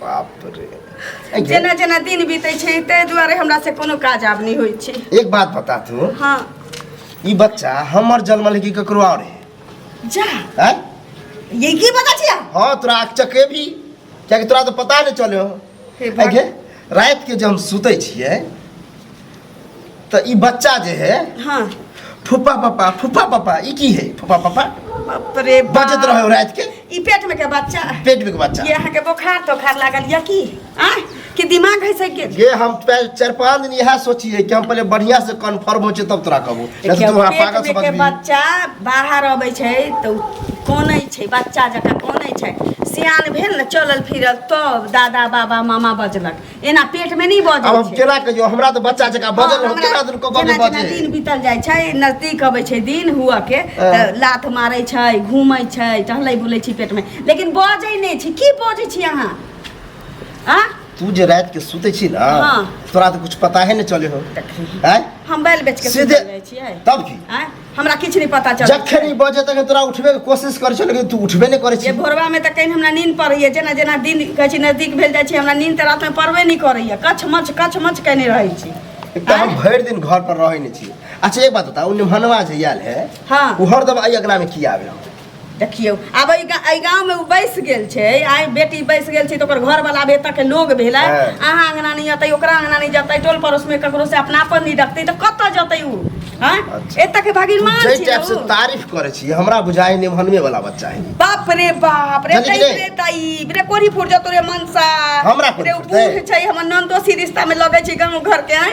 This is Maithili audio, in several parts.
बाप रे ऐ जे- जेना जेना दिन बीतै छै ताहि दुआरे हमरा से कोनो काज आब नहि होइ छै एक बात बता तू हँ ई बच्चा हमर जन्म लेके ककरो और है जा हैं? ये की बता छिया हाँ तोरा आँख चके भी कियाकि तोरा तो पता नहीं चले हो हे ऐ भगवान। गे, रात के जब हम सुते छिए तो ई बच्चा जे है हाँ फूफा पापा फूफा पापा ई की है फूफा पापा बाप रे बाप। बजत रहे रात के ई पेट में के बच्चा पेट में के बच्चा ये अहाँ के बोखार तोखार लागल या की आ कि दिमाग है से के ये हम पै- चार पांच दिन यहाँ सोचिए कि हम पहले बढ़िया से कंफर्म हो जाए तब तोरा कहबो नहीं तो देखियौ, तू वहाँ पेट पागल में समझ के भी बच्चा बाहर अबै छै तऽ कोनै छै बच्चा जकाँ कोनै छै सियान भेल ने चलल फिरल तब दादा बाबा मामा बजलक एना पेट में नहीं अब बजे हम केना कहियो हमरा तऽ बच्चा जका बजल रहत केना दिन कऽ कऽ जेना जेना दिन बजे बीतल जाइ छै नजदीक अबै छै दिन हुअ के तऽ हँ। लात मारै छै घूमै छै टहलै बुलै छी पेट में लेकिन बजै नहि छी की बजै छी अहाँ आ तू जे रात के सुते छी ना हाँ। तोरा तऽ कुछ पता है ने चले हो देखी हैं हम बैल बेच के सीधे- सुतल रहै छियै तब की आँय? हमरा किछु नहि पता चल जखन ई बजे तखन तोरा उठबे के कोशिश करै छौ लेकिन तू उठबे नहि करै जे छी भोरवा में तऽ कहीं हमरा नींद पड़ैए जेना जेना दिन कहै छै नजदीक भेल जाइ छै हमरा नींद तऽ रातिमे पड़बे नहि करैए कछ मच कछ मच कयने रहै छी एक तऽ हम भरि दिन घर पर रहै नहि छी अच्छा एक बात बता उ निमहनवा जे आयल है हाँ। उ हरदम अइ अगना में किया आवे देखियौ आब एहि गा- एहि गाँव में उ बैस गेल छै आइ बेटी बैस गेल छै तो ओकर घर वाला बेटा के लोग भेलै हाँ। अहाँ अंगना नहीं जतै ओकरा अंगना नहीं जतै टोल पड़ोस में ककरो से अपनापन नहीं रखतै तो कतऽ जतै उ हाँ अच्छा। एतऽ के भगवान जै छी टाइप से उ। तारीफ करे छी हमरा बुझाई नहीं हनमे वाला बच्चा है बाप रे बाप रे जल्दी तई गिरे। रे तई रे कोरी फूट जतो रे मनसा हमरा कोरी रे उ फूटतै। बूढ़ छै हमर नंदोसी रिश्ता में लगै छै गांव घर के हैं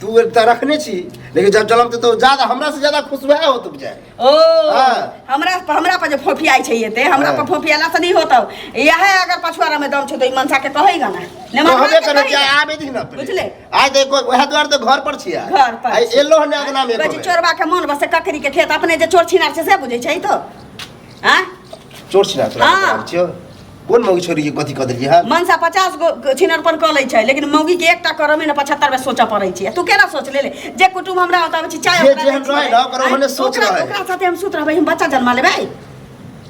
तू एकटा रखने छी लेकिन जब जलम ते तो ज्यादा हमरा से ज्यादा खुश वह होत बुझाय ओ हाँ। हमरा हमरा पर जे फोफियाइ छै एते हमरा हाँ। पर फोफियाला से नहीं होतौ यह अगर पछुआरा में दम छै तो ई मनसा के कहेगा ना ने तो हबे करे कि आबे दिन ना बुझले आइ ते कोई वह द्वार तो घर पर छिया घर पर आइ एलो ने अंगना में बजे चोरबा के मन बस ककरी के खेत अपने जे चोर छिनार छै से बुझै छै तो हां चोर छिनार हां छियो कोन मौगी छोड़ी के कथी कह देलिए है मनसा पचास गो छिनरपन कऽ लै छै लेकिन मौगी के एकटा करऽ में ने पचहत्तर बेर सोचऽ पड़ै छै तू केना सोच ले ले जे कुटुम हमरा होता छै चाय जे ओकरा जेहन दै छियै। रहै ने, ओकरा आँय, ओहने सोच ओकरा- रहै। ओकरा साथे हम सुत रहबै हम बच्चा जन्मा लेबै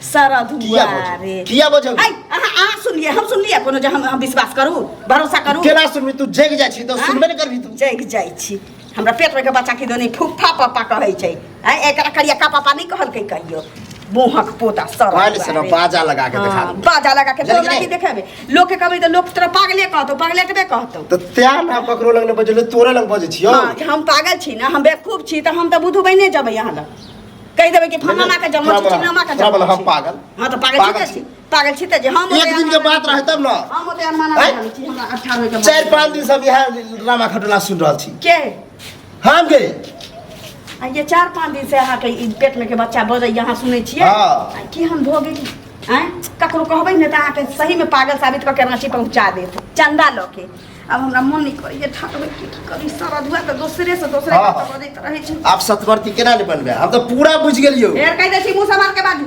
शरद किया हुआ बोझ रे किया बोझ आय अहाँ अहाँ सुनलिए हम सुनलिए कोनो जे हम हम विश्वास करू भरोसा करू केना सुनबी तू जग जाइ छी तो आँय? सुनबे ने करबी तू जग जाइ छी हमरा पेट में के बच्चा की दोनी फुफ्फा पापा कहै छै हैं एकरा करिया का पापा नहीं कहल के कहियो बोहक पोता सर पहले से ना बाजा लगा के दिखा दे। बाजा लगा के जल्दी तोरा नहीं। की देखेबे लोग के कहबे त लोग तोरा पागले कहतो पागले तबे कहतो तो त्या ना ककरो लग ने बजले तोरे लग बजे छियो हाँ, कि हम पागल छी ना हम बेवकूफ छी त हम त बुधु बने जबै यहाँ लग कहि देबै कि फलाना के जन्म छी चिन्नामा के थोड़ा बोला, जन्म हम छी। पागल। हाँ त पागल पागल छी छी। पागल छी तऽ जे हम एक दिन के बात रहै तब ने हम ओते अनमाना हैं? रहल छी हमरा अच्छा होय के चारि पाँच दिन से हम इएह ड्रामा खटोला सुनि रहल छी के हम के आ ये चार पाँच दिन से अहाँके ई पेट में के बच्चा बजै यहाँ सुनै छियै हाँ। आ की हम भऽ गेली आँय ककरो कहबै ने तऽ अहाँके सही में पागल साबित कऽ के राँची पहुँचा देत चंदा लऽ के अब हमरा मन नहि करैए ठाट होय के की करी सारा धुआ तऽ दोसरे से दोसरे हाँ। बात बजैत रहै छै आप सतवर्ती केना ने बनबे हम तो पूरा बुझ गेलियो फेर कहि दै छी मुँह समार के बाजू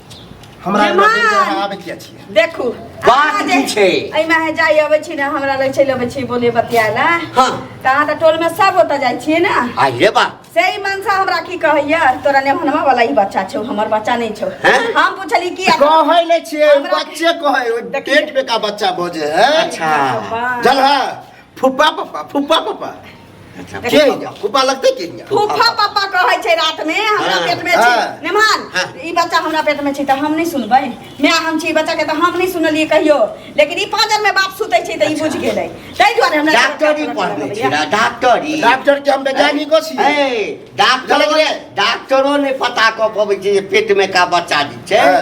हमरा जमा। लगे के अहाँ आबे किया छियै देखू बात अहाँ जे- की छै? एहिमे अहाँ जाइ अबै छी ने हमरा लग चलि अबै छी बोले बतियाए ला हाँ। तऽ अहाँ तऽ टोलमे सब ओतऽ जाइ छियै ने आई रे बा से ई मनसा हमरा की कहैया तोरा ने हनमा वाला ई बच्चा छौ हमर बच्चा नहीं छौ हैं? हम पूछली की कहै नै छियै हमरा- बच्चे कहै ओइ देखिए। पेट पे का बच्चा बोझे है अच्छा। जल है फुप्पा पप्पा फुप्पा पप्पा अच्छा के ठीक यऽ, फूफा लगतै कि यऽ? फूफा पापा कहै छै रात में हमरा हाँ, पेट में हाँ। छी नेमान हाँ। ई बच्चा हमरा पेट में छी तऽ हम नहि सुनबै माय हम छी ई बच्चा के तऽ हम नहि सुनलियै कहियो लेकिन ई पाँजर में बाप सुतै छै तऽ ई बुझि गेलै ताहि दुआरे हमरा डॉक्टरी पढ़ने छी ना, डॉक्टरी डॉक्टर के हम वैज्ञानिको छी ए, डॉक्टरो ने डॉक्टरो ने पता कऽ पबै छै जे पेट में का बच्चा जे छै हाँ।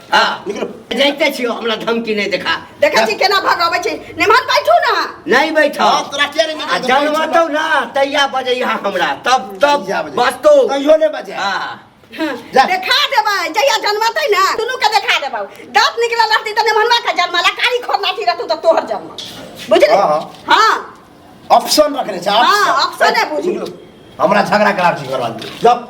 हाँ निकलो जाइते छियो हमरा धमकी नहीं देखा देखै छी केना भगाबै छी निमहर बैठू ना नहीं बैठो हाँ, तोरा किया नहीं आ निकल जनमतौ ना तैया बजे यहाँ हमरा तब तब तैया बजे। बसतो कहियो नहीं बजे हाँ हँ, जा। देखा देबै जहिया जनमतै ना दुनू के देखा देबै दाँत निकलल रहतै तऽ निमहरवा के जन्म ला कारी खोर लाठी रहतौ तऽ तोहर जन्म बुझली हाँ, हाँ। हाँ ऑप्शन रखने छे हाँ, option है, बुझी। हमरा झगड़ा कराब छी करवा दे जब